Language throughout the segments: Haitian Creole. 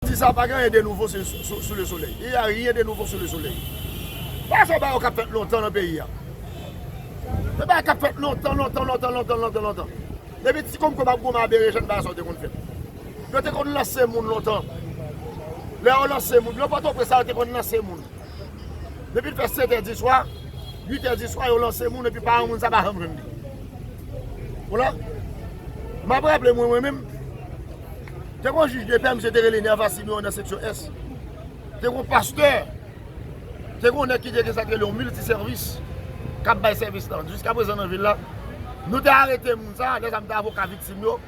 Di sa pa gen anyen de nouvo sou le solèy. Il y a rien de nouveau sous le soleil. Pa fè bagay yo kap fèt lontan nan peyi a. Se bagay kap fèt lontan, lontan, lontan, lontan, lontan, lontan. Depi ti konm konm ap goumen a berejèn bagay sa yo te konn fèt. Yo te konn lanse moun lontan. Lè yo lanse moun, nan Pòtoprens la yo te konn lanse moun. Depi l fè setè di swa, uitè di swa yo lanse moun epi paran moun sa pa janm jwenn li. Wala. Map raple mwen mwen menm. Te gen yon jij de pè misye te rele Nerva Siméon nan seksyon ès. Te gen yon pastè, te gen yon nèg ki te gen sa yo rele yon milti sèvis k ap bay sèvis lan. Jiska prezan nan vil la, nou te arete moun sa a, lè sa a m te avoka viktim yo,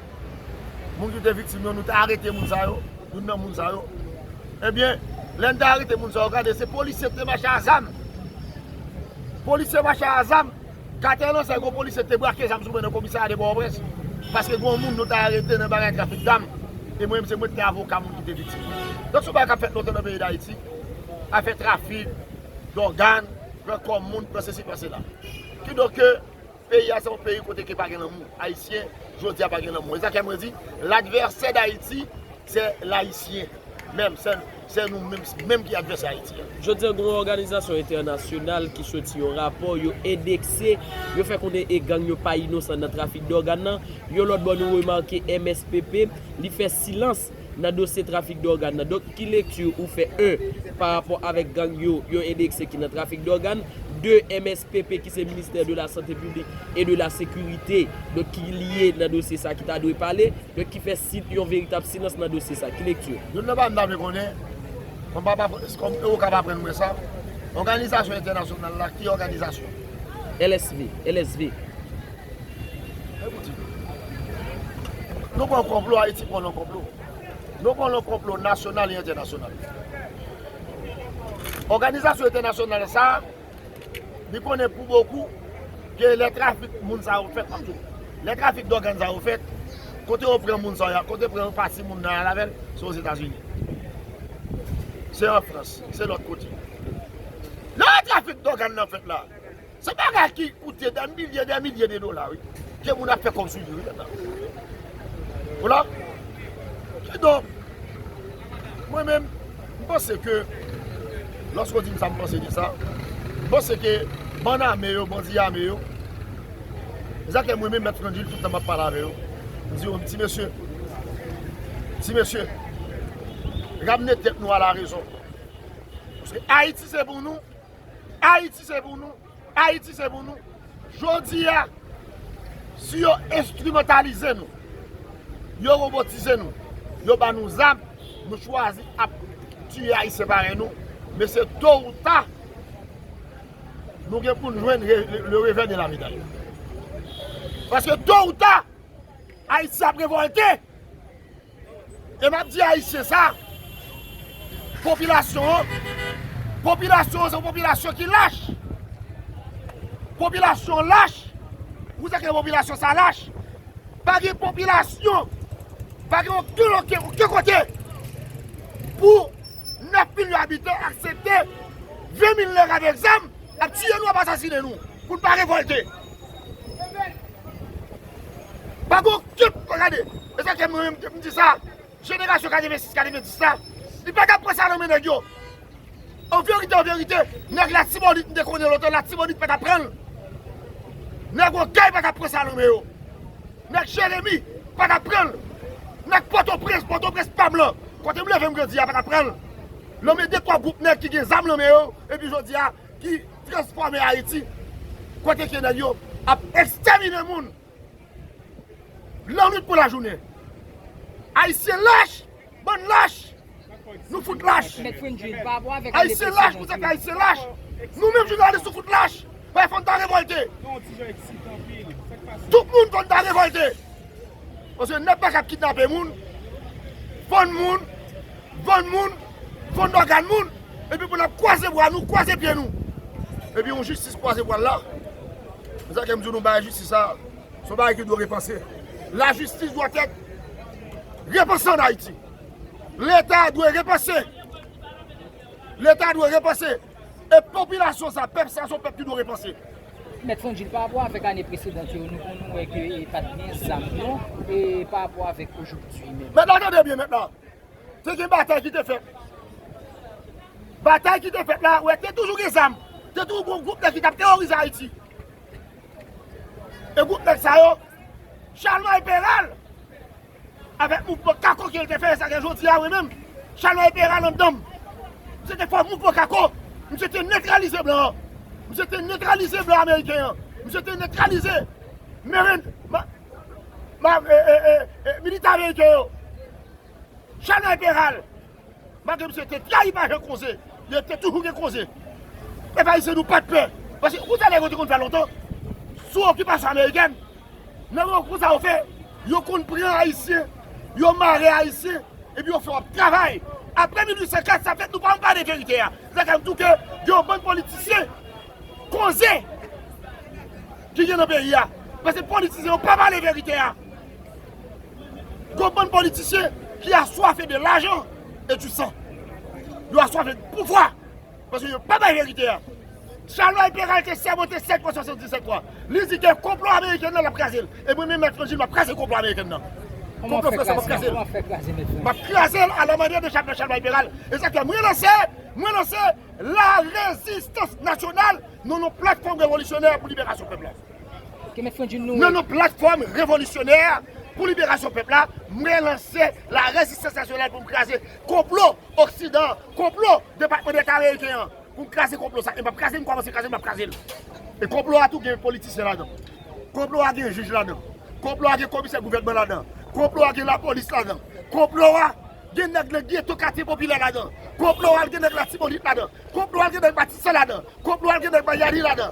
moun ki te viktim yo, nou te arete moun sa yo, youn nan moun sa yo. Ebyen, lè n te arete moun sa yo, gade se polisye ki te mache a zam. Polisye mache a zam. Katè Lanzay gwo polisye ki te brake zam sou mwen nan komisarya de Pòtoprens paske gwo moun nou ta arete nan bagay trafik zam e mwen menm se mwen ki te avoka moun ki te viktim nan. Donk se yon bagay k ap fèt lontan nan peyi Dayiti, afè trafik dògàn, pran kò moun, pran sesi pran sela. Kidonk ke peyi a se yon peyi kote ke pa gen lanmou. Ayisyen jodi a pa gen lanmou. E sa k fè mwen di ladvèsè Dayiti se l Ayisyen menm. Se nou menm menm ki advèsè Ayiti a. Jodi an gen yon òganizasyon entènasyonal ki soti yon rapò, yo endekse, yo fè konnen e gang yo pa inosan nan trafik dògàn nan. Yon lòt bò nou remake MSPP, li fè silans nan dosye trafik dògàn nan. Donk ki lekti ou fè 1 pa rapò avèk gang yo, yo endekse ki nan trafik dògàn, 2 MSPP ki se ministè de la sante piblik e de la sekirite, donk ki lye nan dosye sa ki ta dwe pale. Donk ki fè si yon veritab silans nan dosye sa. Ki lekti? Youn nan bagay m ta vle konnen, kòm m pa pa, kòm e Okap aprann mwen sa, òganizasyon entènasyonal la ki òganizasyon? LSV, LSV. Mwen pou di nou. Nou konn konplo, Ayiti konn konplo. Nou konn konplo nasyonal e entènasyonal. Òganizasyon entènasyonal sa, Li konnen pou bokou ke lè trafik moun sa yo fèt, antou, lè trafik dògàn sa yo fèt, kote yo pran moun sa yo, kote yo pran pati moun nan al avè l, se Ozetazini. Se an Frans, se lòt kote. Lè trafik dògàn nan fèt la, se bagay ki koute dè milye, dè milye de dola wi, ke moun ap fè kòb sou li wi mèt la. Vwala. Kidonk. Mwen menm, m panse ke, lòske w di m sa m panse de sa, m panse ke bann ame yo, bandi ame yo, ezakèm mwen menm Mèt Frangil tout tan m ap pale avè yo, m di yo ti mesye, ti mesye, ramne tèt nou a la rezon. Paske Ayiti se pou nou, Ayiti se pou nou. Ayiti se pou nou. Jodi a, si yo enstrimantalize nou, yo robotize nou, yo ban nou zam, nou chwazi ap tiye Ayisyen parèy nou, mesye to ou ta, nou gen pou nou jwenn le revè de la meday. Paske to ou ta, Ayiti ap revolte. E map di ayisyen sa, popilasyon an, popilasyon an se yon popilasyon ki lach. Popilasyon an lach, ou se ke popilasyon sa lach. Pa gen popilasyon, pa gen oken oken oken kote pou 9 milyon abitan aksepte 20 mil nèg avèk zam ap tiye nou ap asasine nou pou n pa revolte. Pako okenn moun gade, e sa fè mwen menm m di sa, jenerasyon 86, 90 la, li pa ka pran sa nan men nèg yo. An verite, an verite, nèg latibonit m te konnen lontan, latibonit pa ta pran l. Nèg okay pa ta pran sa nan men yo. Nèg jeremi pa ta pran l. Nèg pòtoprens, pòtoprens pa m lan, kote m leve m grandi a pa ta pran l. Nan men de twa gwoup nèg ki gen zam nan men yo, epi jodi a. ki transfòme Haiti kote ke nèg yo ap extermine moun lannwit kou lajounen Haitien lach bann lach nou fout lach Haitien lach pou tèt Haitien lach nou menm jounalis nou fout lach fòn ta revolte tout moun fòn ta revolte Paske nèg pa ka ap kidnape moun, vann moun, vann moun, vann ògàn moun, epi pou n ap kwaze bra nou, kwaze pye nou. Epi yon jistis kwaze bra l la, se sa k fè m di w nou bagay jistis sa, se yon bagay ki dwe repanse. Lajistis dwa tèt repanse an Ayiti. Leta dwe repanse. Leta dwe repanse. E popilasyon sa, pèp sa se yon pèp ki dwe repanse. Mèt Frangil, pa rapò avèk ane presedant yo, nou konn wè ke e pat gen zam non, e pa rapò avèk ojopdi menm. Mèt la tande byen mèt la, te gen batay ki te fèt, batay ki te fèt la, wè te toujou gen zam, te toujou gen yon gwoup nèg ki tap teworize Ayiti. E gwoup nèg sa yo, Chalmay Peral. Avèk mouvman kako ke l te fè sa gen jodi a, mwen menm, chalè e te rale anndan m. Se te fòs mouvman kako. Misye te netralize blan an. Misye te netralize blan ameriken an. Misye te netralize merin, ma, ma, e, e, e, e, militè ameriken yo. Chalè e te rale. Malgre misye te trayi pa jan koze ye te toujou gen koze. Pèp ayisyen nou pat pè. Paske yon bagay yo te konn fè lontan sou okipasyon amerikèn nan yon kou sa yo fè yo konn pran ayisyen yo mare ayisyen epi yo fè yo ap travay. Aprè 1804 sa fèt nou pa janm pale verite a. Se sa k fè m di w ke gen yon bann politisyen koze ki gen nan peyi a. Paske politisyen yo pa pale verite a. Gon bann politisyen ki aswafe de lajan e du san. Yo aswafe de pouvwa. Paske yo pa bay verite a. Chalmay Peral te sèmante 7 mwa 77 mwa. Li di gen konplo ameriken nan lap kraze l. E mwen menm Mèt Frangil map kraze konplo ameriken nan. Konplo franse a map kraze l. Map kraze l a la manyè de Chalmay Chalmay Peral. E sa k fè mwen lanse, mwen lanse la rezistans nasyonal nan yon platfòm revolisyonè pou liberasyon pèp la. Nan non Platfòm Revolisyonè pou Liberasyon Pèp la, mwen lanse la Rezistans Nasyonal pou m kraze konplo Oksidan, konplo Depatman Deta Ameriken an, pou m kraze konplo sa. E m ap kraze l, m kòmanse kraze l, m ap kraze l. E konplo a tou gen politisyen ladan. Konplo a gen jij ladan. Konplo a gen komisè gouvènman ladan. Konplo a gen lapolis ladan. Konplo a gen nèg nan geto katye popilè ladan. Konplo a gen nèg Latibonit ladan. Konplo a gen nèg Matisan ladan. Konplo a gen nèg Mayani ladan.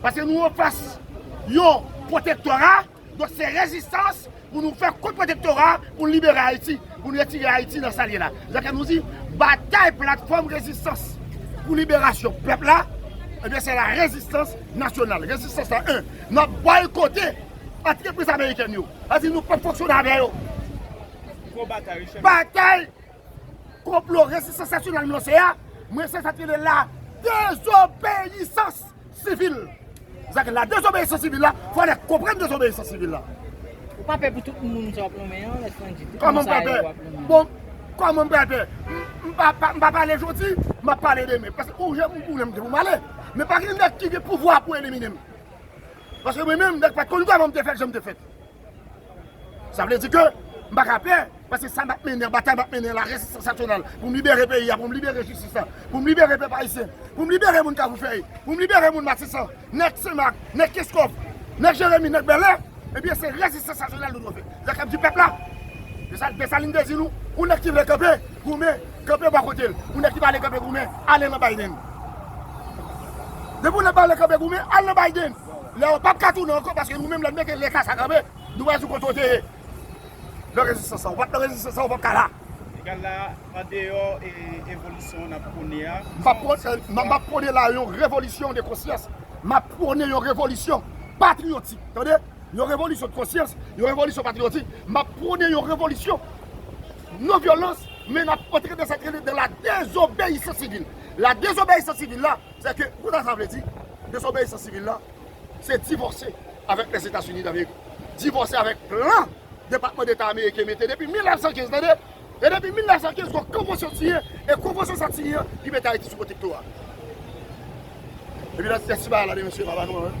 Paske nou anfas yon pwotektora, donk se rezistans pou nou fè kont pwotektora pou nou libere Ayiti, pou nou retire Ayiti nan sa l ye la. Se sa ke nou di, batay platfòm rezistans pou liberasyon pèp la, ebyen se la rezistans nasyonal. Rezistans la 1. N ap bòykote antrepriz amerikèn yo. Sa vle di nou p ap fonksyone avè yo. Batay! Konplo Rezistans Nasyonal m lanse a, mwen se sa k rele la dezobeyisans sivil. Sa k la dezobeyisans sivil la, fò nèg konprann dezobeyisans sivil la. Ou pa pè pou tout moun sa w ap lonmen an, lè san di, tout moun sa yo w ap lonmen an? Bon, kòman m pral pè? M pa pale jodi, m ap pale demen. Paske ou jè m konnen m gen pou m ale. Men pa gen nèg ki gen pouvwa pou elimine m. Paske mwen menm, nèg pa t konn kòman m te fèt, jan m te fèt. Sa vle di ke m pa ka pè, paske sa m ap mennen, batay m ap mennen la, resistans nasyonal, pou m libere peyi a, pou m libere jistis la, pou m libere pèp ayisyen, pou m libere moun Kavoufèy, pou m libere moun Matisan, nèg Senmak, nèg Keskòf, nèg Jeremi, nèg Bèlè, ebyen se resistans nasyonal nou dwe fè. Se sa k ap di pèp la. Se sa Desalin te di nou, yon nèg ki vle kanpe, goumen, kanpe bò kote l. Yon nèg ki pa vle kanpe goumen, ale nan Biden. Depi w nan pale kanpe goumen, al nan Biden. Lè ou pap ka tounen ankò paske nou menm lè n mete lè ka sa kanpe, nou pral di w kote w te ye nan rezistans sa. Ou pa t nan rezistans sa, ou pap ka la. Egal la, andeyò evolisyon n ap pwone a. M pa pwone, m ap pwone la yon revolisyon de konsyans. M ap pwone yon revolisyon patriyotik. Tande, yon revolisyon de konsyans, yon revolisyon patriyotik. M ap pwone yon revolisyon non vyolans men n ap antre nan sa k rele la dezobeyisans sivil. La dezobeyisans sivil la. Se ke, kou ta sa vle di, desobeyisans sivil la, se divòse avèk Lèzetazini Damerik, divòse avèk plan Depatman Deta Ameriken mete depi 1915, tande, e depi 1915 gon konvansyon siyen, e konvansyon sa t siyen an ki mete Ayiti sou pwotektora. Epi lè ti bagay la de mesye pa ba nou anyen.